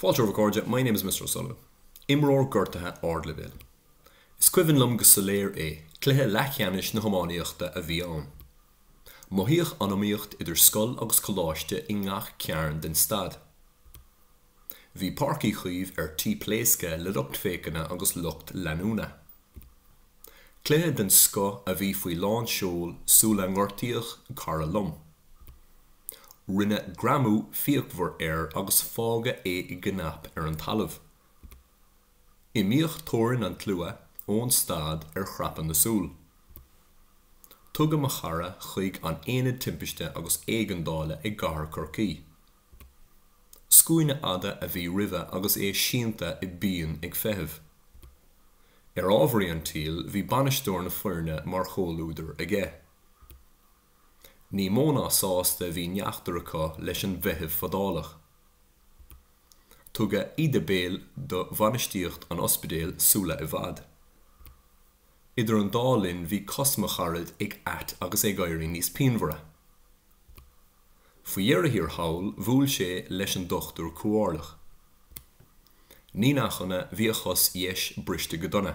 Fáilte romhaibh a chairde, my name is Mr O'Sullivan. Imreoir gortaithe ardleibhéil. Is cuimhin liom go soiléir é, cluiche leathcheannais na hiománaíochta a bhí ann. Mothaíodh an iomaíocht idir scoil agus coláiste i ngach cearn den staid. Bhí Páirc Uí Chaoimh ar tí pléascadh le lucht féachana agus lucht leanúna. Cluiche den scoth a bhí faoi lánseol sula ngortaíodh cara liom. Rinneadh greamú fíochmhar air agus fágadh é i gcnap ar an talamh. D'imigh torann an tslua ón staid ar phreabadh na súl. Tugadh mo chara chuig an Aonad Timpiste agus Éigeandála i gcathair Chorcaí. Scuaine fhada a bhí roimhe agus é sínte i bpian ag feitheamh. Ar ámharaí an tsaoil bhí bainisteoir na foirne mar chomhluadar aige. Ní mó ná sásta a bhí neachtar acu leis an bhfeitheamh fadálach. Tugadh íde béil do bhainistíocht an ospidéil sula i bhfad. Idir an dá linn bhí cos mo charad ag at agus ag éirí níos pianmhaire. Faoi dheireadh thiar thall bhuail sé leis an dochtúir comhairleach. Ní nach ionadh bhí a chos dheis briste go dona.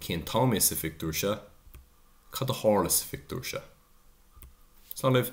Cén t-am é sa phictiúr seo? Cad a tharla sa phictiúr seo? Slán libh!